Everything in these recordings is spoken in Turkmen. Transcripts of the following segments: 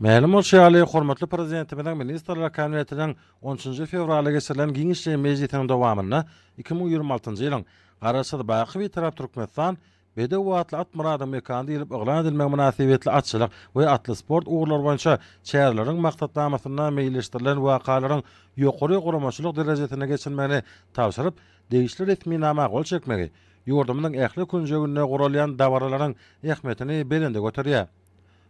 Mälim bolşy ýaly, hormatly Prezidentimiziň Ministrler Kabinetiniň on üçünji fewralda geçirilen giňişleýin mejlisiniň dowamynda iki müň ýigrimi altynjy ýylyň Garaşsyz, baky Bitarap Türkmenistan bedewi atly at myradyň mekany diýlip yglan edilmegi mynasybetli atçylyk we atly sport ugurlary boýunça çäreleriň maksatnamasynda meýilleşdirilen wakalaryň ýokary guramaçylyk derejesinde geçirilmegini tabşyryp, degişli resminama gol çekmegi ýurdumyzyň ähli künjeginde guralýan dabaralaryň ähmiýetini belende göterýär.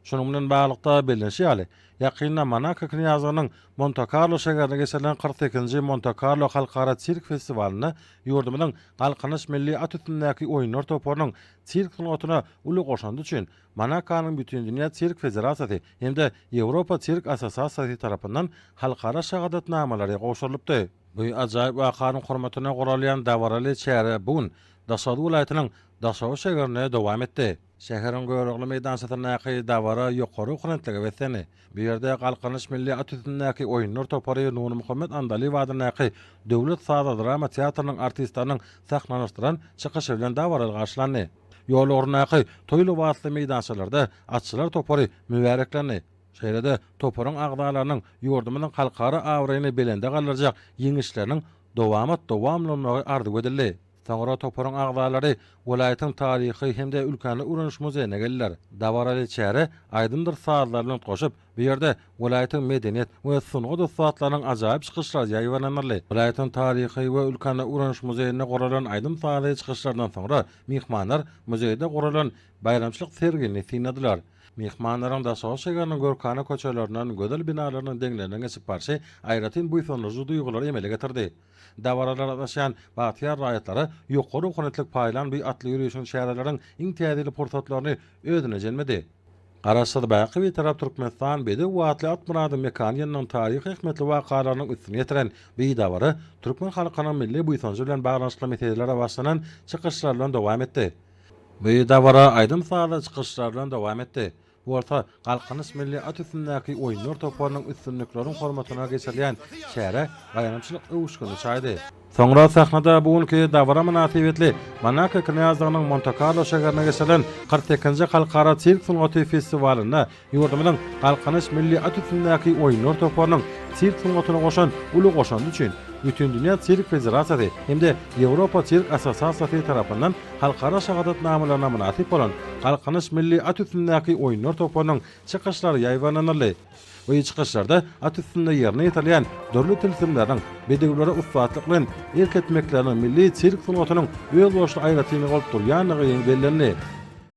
Şunuň bilen baglylykda, bellenişi ýaly, ýakynda Monako Knýazlygynyň Monte-Karlo şäherinde geçirilen kyrk sekizinji Monte-Karlo halkara sirk festiwalynda ýurdumyzyň Galkynyş milli at üstündäki oýunlar toparynyň sirk sungatyna uly goşandy üçin Monakonyň Bütindünýä sirk federasiýasy hem-de Ýewropa sirk assosiasiýasy tarapyndan halkara şahadatnamalary gowşurylypdy. Bu ajaýyp wakanyň hormatyna guralýan dabaraly çäre bu gün Daşoguz welaýatynyň Daşoguz şäherinde dowam etdi. Şäheriň Görogly meýdançasyndaky dabara ýokary okrentlige beslendi. Bu ýerde Galkynyş milli at üstündäki oýunlar topary Nurmuhammet Andalyýew adyndaky Döwlet saza-drama teatrynyň artistleriniň sahnalanyşdyran çykyşy bilen dabaraly garşylandy. Ýol ugrundaky toý lybasly meýdançalarda atçylar topary mübäreklendi. Şeýle-de toparyň agzalarynyň ýurdumyzyň halkara abraýyny belende galdyrjak ýeňişleriniň dowamat-dowam-lanmagy arzuw edildi. Soňra toparyň agzalary welaýatyň taryhy hem-de ülkäni öwreniş muzeýine geldiler. Dabaraly çäre aýdymdyr sazlar bilen utgaşyp, bu ýerde welaýatyň medeniýet we sungat ussatlarynyň ajaýyp çykyşlary ýaýbaňlandyryldy. Welaýatyň taryhy we ülkäni öwreniş muzeýinde guralan aýdym-sazly çykyşlardan soňra myhmanlar muzeýde guralan baýramçylyk sergini synladylar. Myhmanlaryň Daşoguz şäheriniň görkana köçelerinden gözel binalarynyň deňlerinden geçip barşy aýratyn buýsandyryjy duýgulary emele getirdi. Dabaralara gatnaşýan bagtyýar raýatlara Ýokary okuwynetlik paýlan bi atly ýörişiň çäreleriň iň täsirli pursatlaryny özüne jemledi. Garaşsyz baky Bitarap Türkmenistan bedew atly Atmyradyň mekany ýanynyň taryhy ähmiýetli wakalarynyň üstüni ýetiren bi dabara türkmen halkynyň milli buýsanjy bilen baglanyşykly meselelere başlanan çykyşlar bilen dowam etdi. Bi dabara aýdym-sazly çykyşlar bilen dowam etdi. bolsa Galkynyş milli at üstündäki oýunlar toparynyň üstünlikleriň hormatyna geçirilýän çärä baýramçylyk öwüşgini çaýdy. Soňra sahnada bu günki dabara mynasybetli Monako knýazlygynyň Monte-Karlo şäherinde geçirilen kyrk sekizinji Halkara sirk sungaty festiwalynda ýurdumyzyň Galkynyş milli at üstündäki oýunlar toparynyň sirk sungatyna goşan uly goşandy üçin Bütindünýä sirk federasiýasy hem-de Ýewropa sirk assosiasiýasy tarapyndan Halkara şahadatnamalaryna mynasyp bolan Galkynyş milli at üstündäki oýunlar toparynyň çykyşlary ýaýbaňlanyldy. Bu çykyşlarda at üstünde ýerine ýetirilýän dürli tilsimleriň, bedewlere ussatlyk bilen erk etmekleriniň milli sirk sungatynyň özboluşly aýratynlygy bolup durýandygy bellendi.